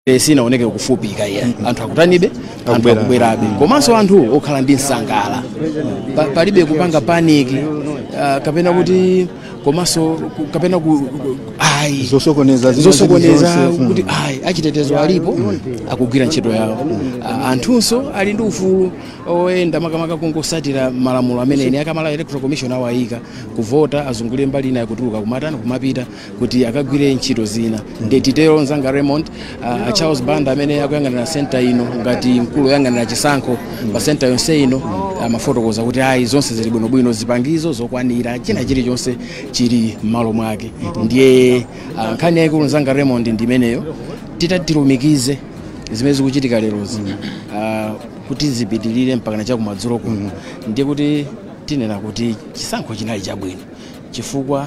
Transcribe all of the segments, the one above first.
Eh, sinaoneke kufupika iya anthu akutanibe anthu Akubwera. akubwerabe komanso anthu okhala ndi nsangala Pa- palibe kupanga paniki ah, kapena kuti komanso ku- kapena ku- ku- ayi zosokoneza zina zosokoneza zilizonse. Mm. kuti ayi achitetezo alipo akugwira ntchito yawo Ah, anthunso ali ndi ufulu oyenda makamaka kungotsatira malamulo amene ine a Malawi electoral commission awayika kuvota azungulire mbali inayo kutuluka kumatani kumapita kuti akagwire ntchito zina ndiye titero nzanga Raymond uh, Charles Banda amene akuyang'anira senta ino ngati mkulu oyang'anira chisankho pa senta yonse ino amafotokoza kuti ayi zonse zili bwinobwino zipangizo zokwanira china chilichonse chili m'malo mwake ndiye uh, nkhani yayikulu nzanga Raymond ndi imeneyo titati tilumikize zimene zikuchitika lerozi uh, kuti zipitirire mpaka na chakumadzulo kuno ndiye kuti tinena kuti chisankho chinali chabwino chifukwa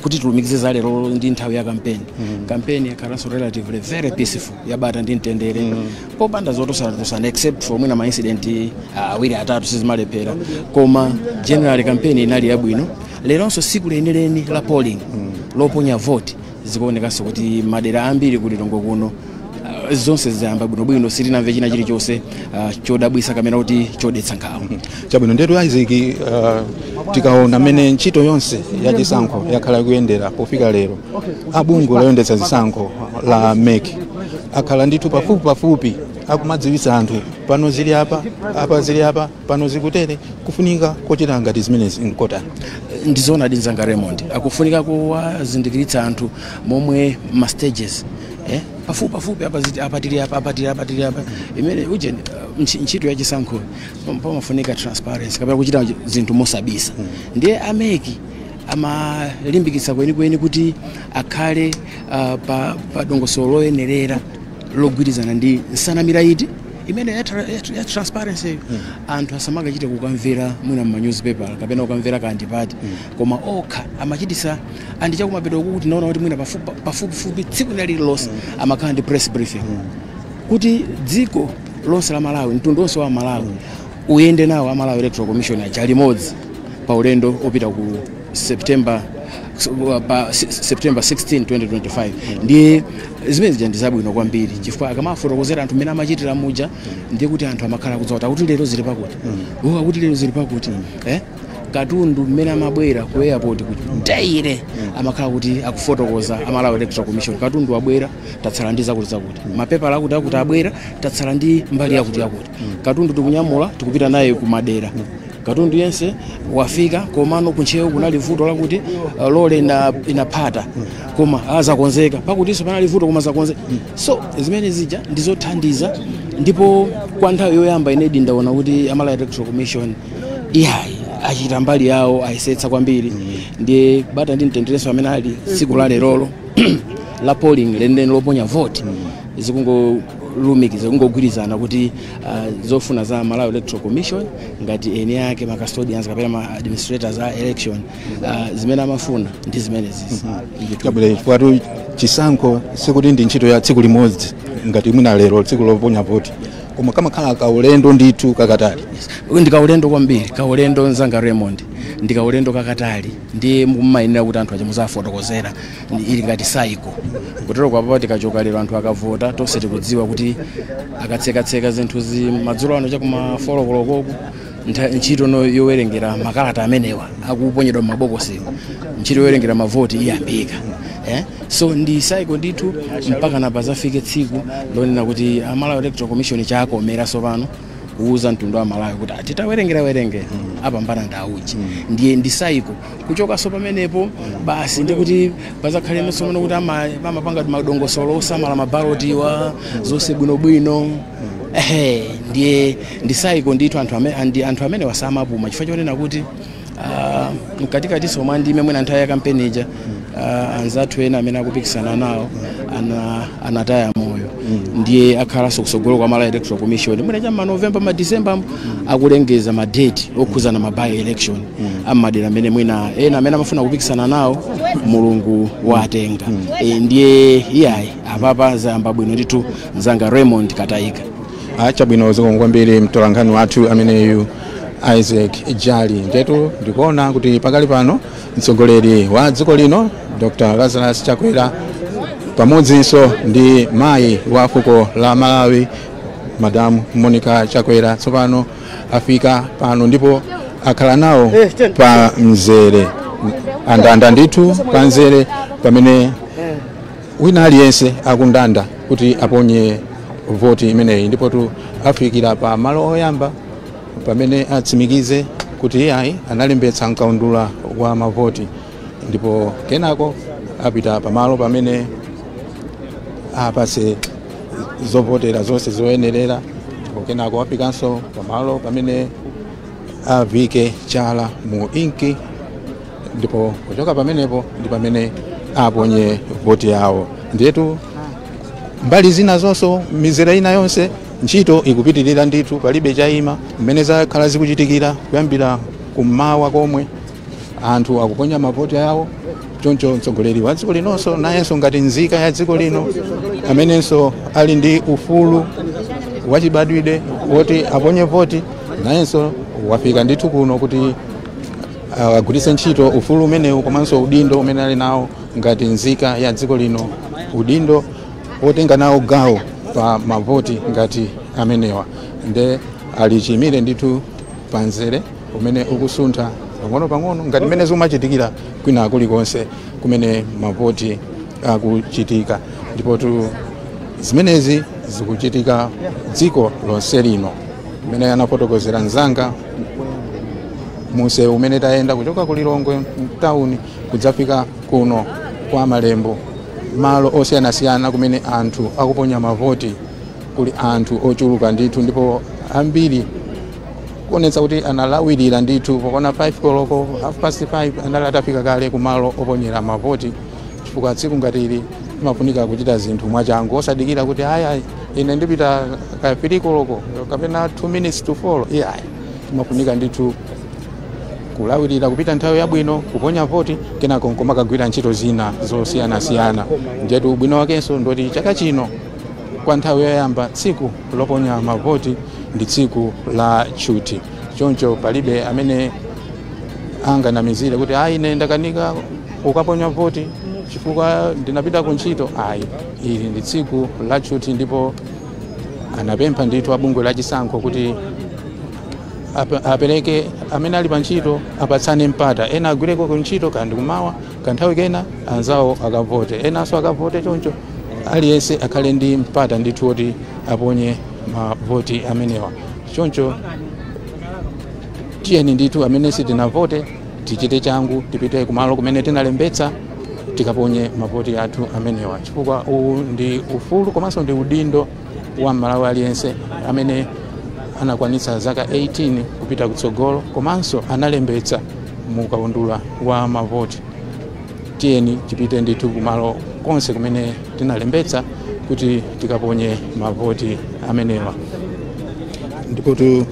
kuti tilumikize za lero ndi nthawi ya kampeni mm. kampeni yakhalanso relatively very peaceful yabata ndi mtendere mm. popanda zotosanatosana except for mwina maincident uh, awiri uh, atatu sizimalephera koma generally kampeni inali yabwino leronso siku lenileni la polling mm. loponya vote Zikuonekanso kuti madera ambiri ku Lilongwe kuno ah, zonse zayamba bwinobwino sitinamve china chilichonse ah, chodabwisa kapena kuti chodetsa nkhawa chabwino ndetu isaac uh, tikaona mmene ntchito yonse ya chisankho yakhala ikuyendera pofika lero a bungwe loyendetsa zisankho la mec akhala ndithu pafupi pafupi akumadziwitsa anthu pano zili apa apa zili apa pano zikutere kufunika kochita ngati zimenezi nkotani ndizoonadi nzanga raymond kufunika kowazindikiritsa anthu momwe ma stages eh? pafupi pafupi apa ziti- apa tili apa apa tili apa tili apa imene uje uh, ntchi- ntchito ya chisankho pam- pamafunika transparency kapena kuchita zinthu mosabisa ndiye a mec amalimbikitsa kwenikweni kuti akhale uh, pa, pa dongosolo loyenerera logwirizana ndi nsanamira iti imene ya, tra- ya, tra- ya transparency yo anthu asamakachite kukamvera mwina mu newspaper kapena kukamvera kandipati koma okha amachitisa and chakumapeto kuku tinaona kuti mwina pafu- pa- pafupifupi tsiku lina lililonse amakhala ndi press briefing kuti dziko lonse la malawi mtundu wonse wa malawi Uyende nawo a Malawi Electoral Commission aja limodzi pa ulendo opita ku September pa September 16 2025 ndiye zimene zija ndi zabwino kwambiri chifukwa akamafotokozera anthu mmene amachitira muja ndiye kuti anthu amakhala akudziwa kuti akuti lero zili pakuti oh akuti lero zili pakuti eh katundu mmene amabwera ku airport kuti ndeyire amakhala kuti akufotokoza a Malawi Electoral Commission katundu wabwera tatsala ndi zakuti zakuti mapepala akuti akuti abwera tatsala ndi mbali yakuti yakuti katundu tikunyamula tikupita naye kumadera katundu yense wafika komano ku Ntcheu kunali vuto lakuti uh, lole ina- inaphata koma azakonzeka pakutinso panali vuto koma azakonzeka so zimene zija ndizothandiza ndipo kwa nthawi yoyamba inedi ndaona kuti a Malawi electoral commission iyayi achita mbali yawo ayesetsa kwambiri ndiye bata ndi mtenderenso amene ali tsiku la lerolo la polling lenileni loponya voti zikungo lumikiza kungogwirizana kuti ah, zofuna za Malawi Electoral Commission ngati eni ake ma custodians kapena ma administrators a election ah, zimene amafuna ndi zimenezi kabwera chifukwatu chisankho sikuti ndi ntchito ya tsiku limodzi ngati mwina lero tsiku loponya voti koma kamakhala kaulendo ndithu kakatali ndi kaulendo kwambiri kaulendo mnzanga Raymond ndi kaulendo kakatali ndiye mumayenera kuti anthu ache muzafotokozera ili ngati cycle kutero kwa apapa tikachoka lero anthu akavota tonse tikudziwa kuti akatsekatseka zinthu zi madzulo ano chakuma 4 koloko ntchito yowerengera makalata amenewa akuponyedwa m'mabokosi ntchito yowerengera mavoti iyambika eh? so ndi cycle ndithu mpaka pazafike tsiku lonena kuti a Malawi electoral commission chakomera tsopano kuuza mtundu wa malawi kuti titawerengawerenga apambana nda uje ndiye ndi cycle kuchokanso pamenepo basi ndikuti pazakhalenso mano kuti ama- amapanga madongosolo osamala mabalotiwa zonse bwinobwino ehe ndiye ndi cycle ndithu anthu amene andi- anthu amene awa samapuma chifukwa chonena kuti ah, mkatikatinso mwa ndime mwina nthawi ya kampeni ija uh, anzathu ena amene akupikisana nawo ana, anataya moyo ndiye akhalanso kusogolo kwa Malawi electoral commission mwina cha manovemba madisemba akulengeza madate okhudzana ma by election a m'madera amene mwina ena amene amafuna kupikisana nawo mulungu watenga e, ndiye iyayi apapa zayamba bwino ndithu mnzanga raymond kataika achabwino zikomo kwambiri mtolankhani wathu ameneyu isaac jali ndetu ndikuona kuti pakali pano Mtsogoleri wa dziko lino Dr. Lazarus Chakwera pamodzinso ndi mayi wa fuko la Malawi Madam Monica Chakwera tsopano afika pano ndipo akhala nawo pa mzere andanda ndithu pa mzere pamene wina aliyense akundanda kuti aponye voti imeneyi ndipotu afikira pa malo oyamba pamene atsimikize kuti iyayi analembetsa mkaundula wa mavoti ndipo kenako apita pamalo pamene apatsidwe zovotera zonse zoyenerera ndipo kenako apitanso pamalo pamene avike chala mu inki ndipo kuchoka pamenepo ndi pamene aponye voti yawo ndiyetu mbali zina zonso mizere ina yonse ntchito ikupitirira ndithu palibe chayima mmene zakhala zikuchitikira kuyambira kummawa komwe anthu akuponya mavoti awo choncho mtsogoleri wa dziko linonso nayenso ngati nzika ya dziko lino amenenso ali ndi ufulu wachibadwidwe woti aponye voti nayenso wafika ndithu kuno kuti agwiritse ntchito ufulu umenewu komanso udindo umene ali nawo ngati nzika ya dziko lino udindo wotenga nawo gawo pa mavoti ngati amenewa nde ali chiyimire ndithu pa mzere umene ukusuntha pang'ono pang'ono ngati mmene zikumachitikira kwina kulikonse kumene mavoti akuchitika ndipotu zimenezi zikuchitika dziko lonse lino mmene anafotokozera mzanga monse mmene tayenda kuchoka ku lilongwe mtawuni kudzafika kuno kwa malembo malo osiyanasiyana kumene anthu akuponya mavoti kuli anthu ochuluka ndithu ndipo ambiri kuonetsa kuti analawirira ndithu pokona 5 koloko half past 5 anali atafika kale kumalo oponyera mavoti chifukwa tsiku ngati ili imafunika kuchita zinthu mwachangu osadikira kuti aya ine ndipita ka 3 koloko kapena 2 minutes to 4 iyayi imafunika ndithu kulawirira kupita nthawi yabwino kuponya voti kenako nkumakagwira ntchito zina zosiyanasiyana ndiyetu ubwino wakenso ndoti chaka chino kwa nthawi yoyamba tsiku loponya mavoti ndi tsiku la tchuthi choncho palibe amene anganamizire kuti ayi ine ndakanika kukaponya voti chifukwa ndinapita ku ntchito ayi ili ndi tsiku la tchuthi ndipo anapempha ndithu abungwe la chisankho kuti Ap- apereke amene ali pa ntchito apatsane mpata ena agwireko ntchito kanthawi kummawa kanthawi kena anzawo akavote enanso akavote choncho aliyense akhale ndi mpata ndithu woti aponye mavoti amenewa choncho tiyeni ndithu amene sitinavote tichite changu tipite kumalo kumene tinalembetsa tikaponye mavoti athu amenewa chifukwa uwu ndi ufulu komanso ndi udindo wa mmalawi aliyense amene anakwanitsa zaka 18 kupita kutsogolo komanso analembetsa mu kaundula wa mavoti tiyeni tipite ndithu kumalo konse kumene tinalembetsa kuti tikaponye mavoti amenewa ndipotu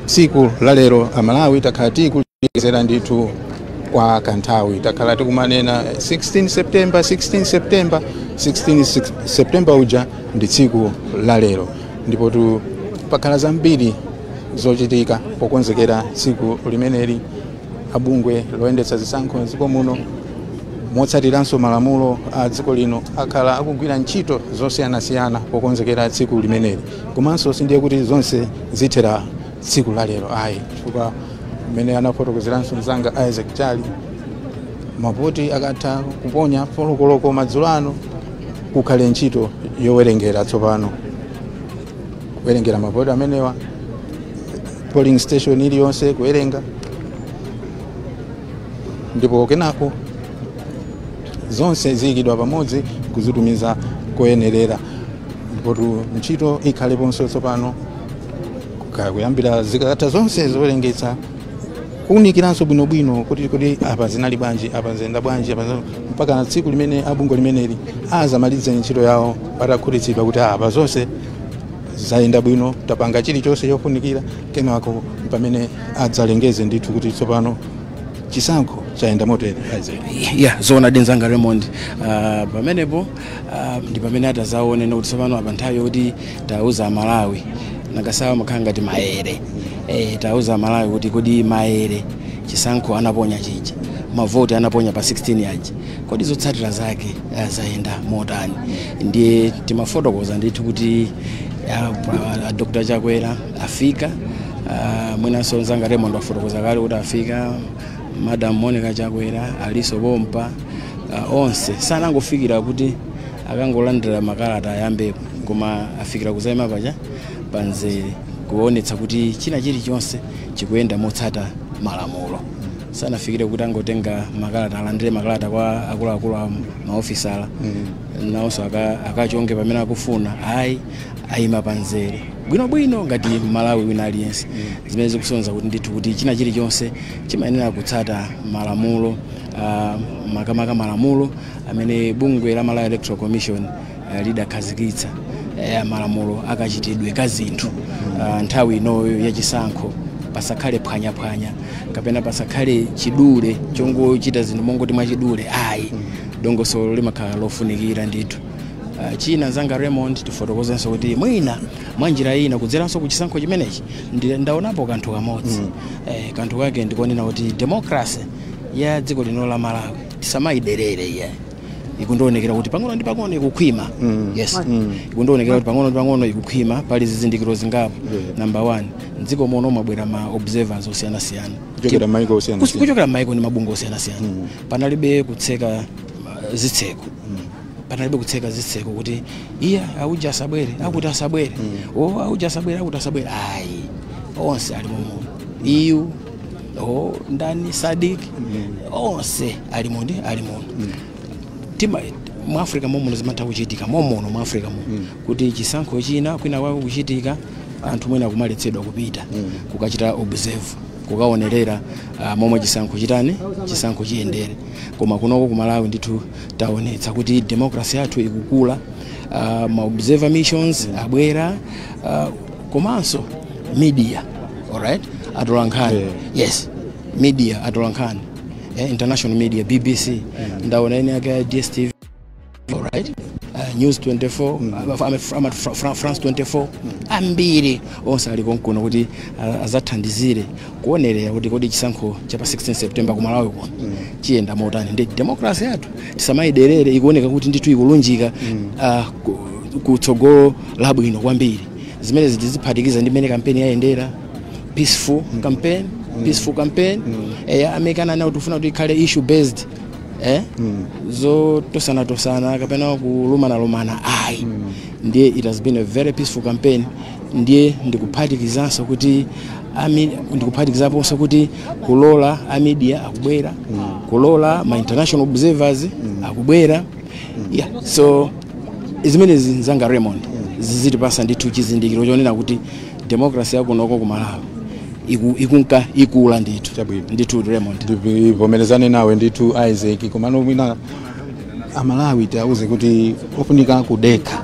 tsiku la lero amalawi takhala tikulengezera ndithu kwa kanthawi takhala tikumanena 16 september 16 september 16 six- september uja ndi tsiku la lero ndipo tu pakhala zambiri zochitika pokonzekera tsiku limeneli abungwe loyendetsa zisankho mdziko muno motsatiranso malamulo a dziko lino akhala akugwira ntchito zosiyanasiyana pokonzekera tsiku limeneli komanso sindiye kuti zonse zithera tsiku la lero ayi chifukwa mmene anafotokozeranso mzanga isaac chali mavoti akatha kuponya folokoloko madzulo ano kukhala ntchito yowerengera tsopano kuwerengera mavoti amenewa polling station iliyonse kuwerenga ndipo kenako zonse ziyikidwa pamodzi kuzitumiza koyenerera ndipotu ntchito ikhaleponso tsopano kaya kuyambira zikatha zonse zowerengetsa kuunikiranso bwinobwino kuti apa zinali bwanji apa zayenda bwanji apa zina- mpaka na tsiku limene abungwe limeneli azamalize ntchito yawo atakhutitsidwa kuti apa zonse zayenda bwino tapanga chilichonse chofunikira kenako pamene adzalengeze ndithu kuti tsopano chisankho chayenda motere ya zoona zedi nzanga raymond Ah, pamenepo ah, ndi pamene atadzaone kuti tsopano apa nthawi yokuti tiwauze amalawi nakasawa zimakhala ngati maere eh, tiwauze amalawi kuti kodi maere chisankho anaponya chija mavoti anaponya pa 16 aja kodi zotsatira zake ah, zayenda motani ndiye timafotokoza ndithu kuti ah, pa- ah, dr chakwera afika uh, mwinanso nzanga Raymond wafotokoza kale kuti afika madam Monica Chakwera alinso pompa uh, onse sanangofikira kuti akangolandira makalata ayambepo koma afikira kuzaima paja panzere kuonetsa kuti china chilichonse chikuyenda motsata malamulo sanafikire kuti angokatenga makalata alandire makalata kwa akuluakulu amaofesala nawonso aka- akachonge pamene akufuna ayi ayima pa nzere bwino bwino ngati Mmalawi wina aliyense zimene zikusonyeza kuti ndithu kuti china chilichonse chimayenera kutsata malamulo ah, makamaka malamulo amene bungwe la Malawi Electoral Commission eh, lidakhazikitsa eh, malamulo akachitidwe ka zinthu Ah, nthawi inoyo ya chisankho pasakhale phwanyaphwanya kapena pasakhale chidule chongochita zinthu mongoti mwachidule ayi dongosolo limakhala lofunikira ndithu Uh, china nzanga Raymond tifotokozenso kuti mwina mwa njira ina kudzeranso ku chisankho chimenechi ndi- ndaonapo kanthu kamodzi mm. eh, kanthu kake ndikonena kuti demokrasi ya dziko lino la malawi tisamayiderere iye ikundionekera kuti pang'ono ndi pang'ono ikukhwima mm. yes mm. ikundionekera kuti pang'ono ndi pang'ono ikukhwima pali zizindikiro zingapo yeah. number one mdziko muno mwabwera ma observers osiyanasiyana kuchokera maiko osiyana Kuch- kuchokera m'maiko ndi mabungwe osiyanasiyana panalibe kutseka uh, zitseko panalibe kutseka zitseko kuti iya auja asabwere akuti asabwere o auja asabwere akuti asabwere ayi onse ali momo EU o ndani SADC onse ali mundi ali muno tima mu africa momuno zimatha kuchitika momuno mu africa muno kuti chisankho china kwina kwake kuchitika anthu mwina kumaletsedwa kupita kukachita observe kukaonerera ah, momwe chisankho chitani chisankho chiyendere koma kunoko kumalawi ndithu taonetsa kuti democracy yathu ikukula uh, ma observer missions abwera uh, komanso media alright atolankhani yeah. yes media atolankhani eh, international media bbc mm. ndaona eNCA ya dstv alright uh, news 24 mm. a france 24 mm. ambiri onse ali konkuno kuti uh, azathandizire kuonerera kuti kodi chisankho cha pa 16 september ku malawi kuno chiyenda motani ndiye demokrasi yathu tisamayiderere ikuoneka kuti ndithu ikulunjika ah, ku- ku tsogolo labwino kwambiri zimenezi tiziphatikiza ndi mmene kampeni yayendera peaceful campaign peaceful campaign eya amekana nawo tikufuna kuti ikhale issue based eh zotosana tosana kapena kulumanalumana ayi ndiye it has been a very peaceful campaign ndiye ndikuphatikizanso kuti ami- ndikuphatikizaponso kuti kulola a media akubwera kulola ma international observers akubwera yeah. so zimenezi nzanga raymond zizitipasa ndithu chizindikiro chonena kuti demokrasi yakunoko ku malawi iku- ikunka ikula ndithu Chabwino. ndithu raymond ndivomerezane nawe ndithu isaac komano mwina amalawi tiauze kuti ofunika kudekha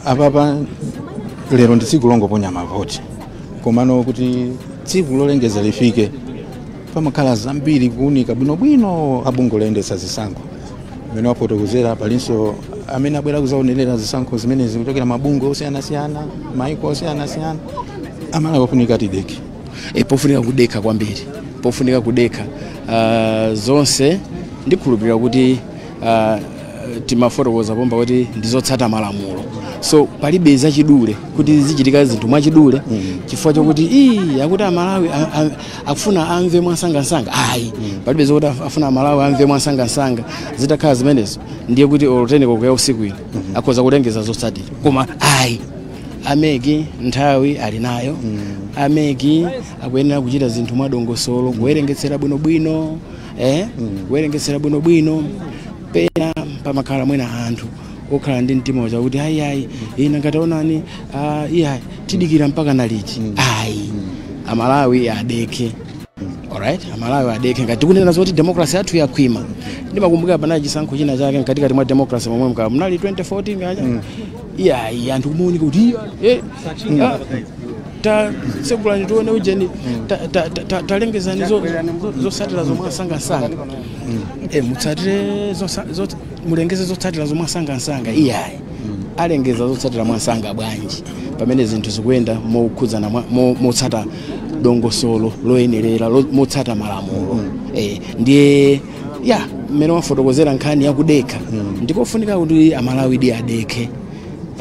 apapa lero ndi tsiku longoponya mavoti komano kuti tsiku lolengeza lifike pamakhala zambiri kuunika bwinobwino abungwe loyendetsa zisankho mmene wafotokozera palinso amene abwera kuzaonerera zisankho zimenezi kuchokera mabungwe osiyanasiyana maiko osiyanasiyana amalawi akufunika tidekhe e, pofunika kudekha kwambiri pofunika kudekha uh, zonse ndikhulupirira kuti uh, timafotokoza pompa kuti ndizotsata malamulo so palibe zachidule kuti zichitika zinthu mwachidule mm. chifukwa chokuti ii akuti amalawi akufuna amve mwansangansanga ayi mm. palibe zokuti afuna amalawi amve mwansangansanga zitakhala zimenezo ndiye kuti olo titero kuti usiku ino mm -hmm. akhoza kulengeza zotsatira koma ayi a MEC nthawi ali nayo mm. a MEC akuyenera kuchita zinthu mwadongosolo kuwerengetsera bwinobwino eh, mm, kuwerengetsera bwinobwino pena pamakhala mwina anthu okhala ndi mtima wachangu kuti ayi ayi ina ngati onani ah, iya tidikira mpakana liti ayi amalawi adekhe alright amalawi adekhe ngati tikunena zoti demokrasi yathu yakhwima ndimakumbukira panali chisankho china chake mkatikati mwa demokrasi momwemu kaya munali 2014 kaja iyayi anthu kumaonika kuti iya eh, ah, ta tsegulani tione ujeni ta- ta- ta- ta- talengezani zo- zo- zotsatira zo mwamsangamsanga Eh, mutsatire zosa- zo- mulengeze zotsatira zo mwamsangamsanga iyayi alengeza zotsatira mwamsanga bwanji pamene zinthu zikuyenda mokhudzana mwa- mo- motsata dongosolo loyenerera lo- motsata malamulo Eh, ndiye ya mmene wafotokozera nkhani yakudekha mm. ndikofunika kuti amalawidi adekhe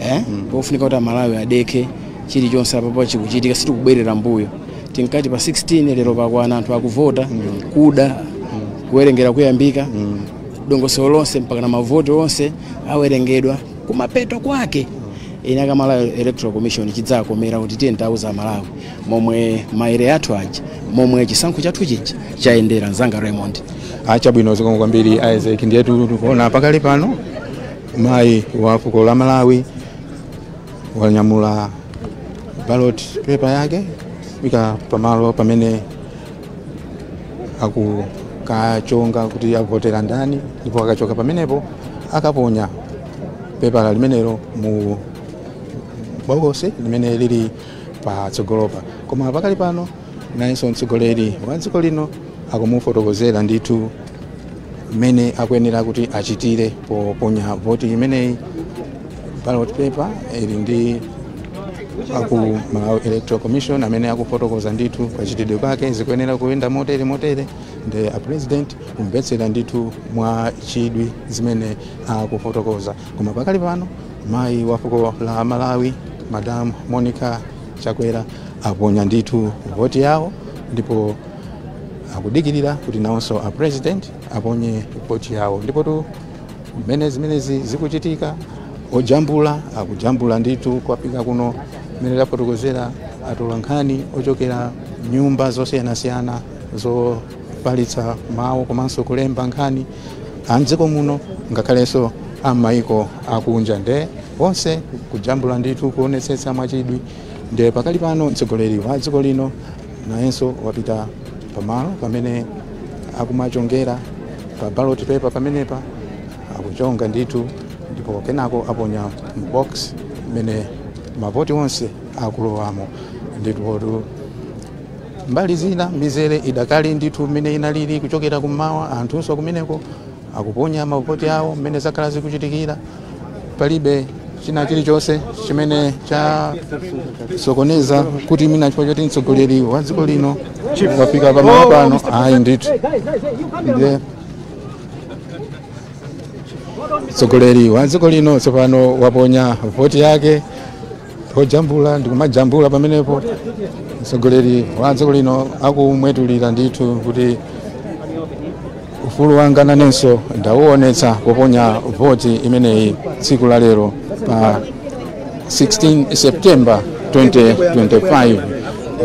eh? mm. kofunika kuti amalawi adekhe chilichonse apapa chikuchitika sitikubwerera mbuyo tinkati pa 16 lero pakwana anthu akuvota mm. kuda mm. kuwerengera kuyambika mm. dongosolo lonse mpakana mavoti onse awerengedwa kumapeto kwake ine a ku malawi electoral commission chidzakomera kuti tiyeni tauza amalawi momwe maere athu aja momwe chisankho chathu chija chayendera mzanga raymond achabwino zikomo kwambiri isaac ndiyetu tikuona pakali pano mayi wa fuko la malawi anyamula ballot paper yake akupita pamalo pamene akukachonga kuti avotera ndani ndipo akachoka pamenepo akaponya pepala limenelo mu bokosi limene lili patsogolopa koma pakali pano nayenso mtsogoleri wa dziko lino akumufotokozera ndithu mmene akuyenera kuti achitire poponya voti imeneyi ballot paper ili ndi aku Malawi Electoral Commission amene akufotokoza ndithu kachitidwe kake zikuyenera kuyenda motere motere nde a president kumvetsera ndithu mwa chidwi zimene akufotokoza koma pakali pano Mayi wa fuko la Malawi Madam Monica Chakwera aponya ndithu voti yawo ndipo akudikirira kuti nawonso a president aponye voti yawo ndipotu mmene zimenezi zikuchitika ojambula akujambula ndithu kwafika kuno mmene tafotokozera atolankhani ochokera nyumba zosiyanasiyana zofalitsa mawu komanso kulemba nkhani a m'dziko muno ngakhalenso a m'mayiko akunja nde onse kujambula ndithu kuonetsetsa mwachidwi nde pakali pano mtsogoleri wa dziko lino nayenso wapita pamalo pamene akumachongera pa ballot paper pamenepa akuchonga ndithu ndipo kenako aponya mu box mmene mavoti onse akulowamo ndithu Mbali zina mizere idakali ndithu mmene inalili kuchokera kummawa, anthunso kumeneko akuponya mavoti awo mmene zakhala zikuchitikira. Palibe china chilichonse chimene chasokoneza kuti mwina chifukwa choti mtsogoleri wa dziko lino wafika pamalo pano, ayi ndithu ndiye mtsogoleri wa dziko lino tsopano waponya voti yake ojambula ndikumajambula pamenepo mtsogoleri wa dziko lino akumwetulira ndithu kuti ufulu wanga nanenso ndawuonetsa poponya voti imeneyi tsiku la lero pa 16 september 2025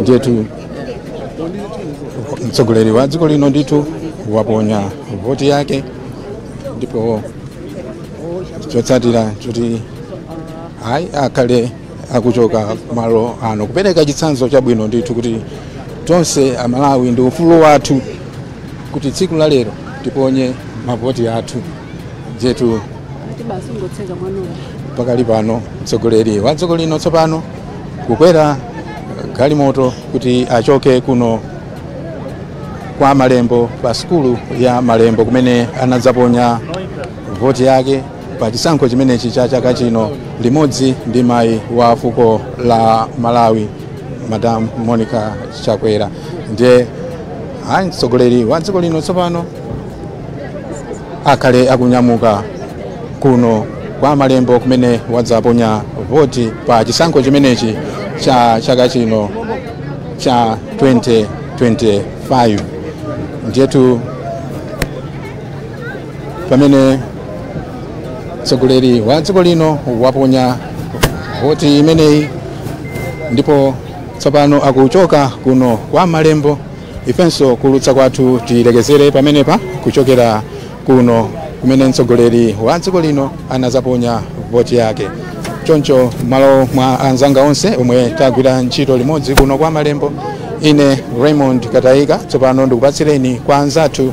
ndiyetu mtsogoleri wa dziko lino ndithu waponya voti yake ndipo chotsatira kuti ayi akhale akuchoka malo ano kupereka chitsanzo chabwino ndithu kuti tonse amalawi ndi ufulu wathu kuti tsiku la lero tiponye mavoti athu ndiyetu pakali pano mtsogoleri wa dziko lino tsopano kukwera galimoto kuti achoke kuno kwa malembo pa sukulu ya malembo kumene anadzaponya voti yake pa chisankho chimenechi cha chaka chino limodzi ndi mayi wa fuko la malawi madam monica chakwera ndiye mtsogoleri wa dziko lino tsopano akhale akunyamuka kuno kwa malembo kumene wadzaponya voti pa chisankho chimenechi cha chaka chino cha 2025 ndiyetu pamene mtsogoleri wa dziko lino waponya voti imeneyi ndipo tsopano akuchoka kuno kwa malembo ifenso kuulutsa kwathu tilekezere pamenepa kuchokera kuno kumene mtsogoleri wa dziko lino anazaponya voti yake choncho m'malo mwa anzanga onse omwe tagwira ntchito limodzi kuno kwa malembo ine raymond katayika tsopano ndikupatsireni kwa anzathu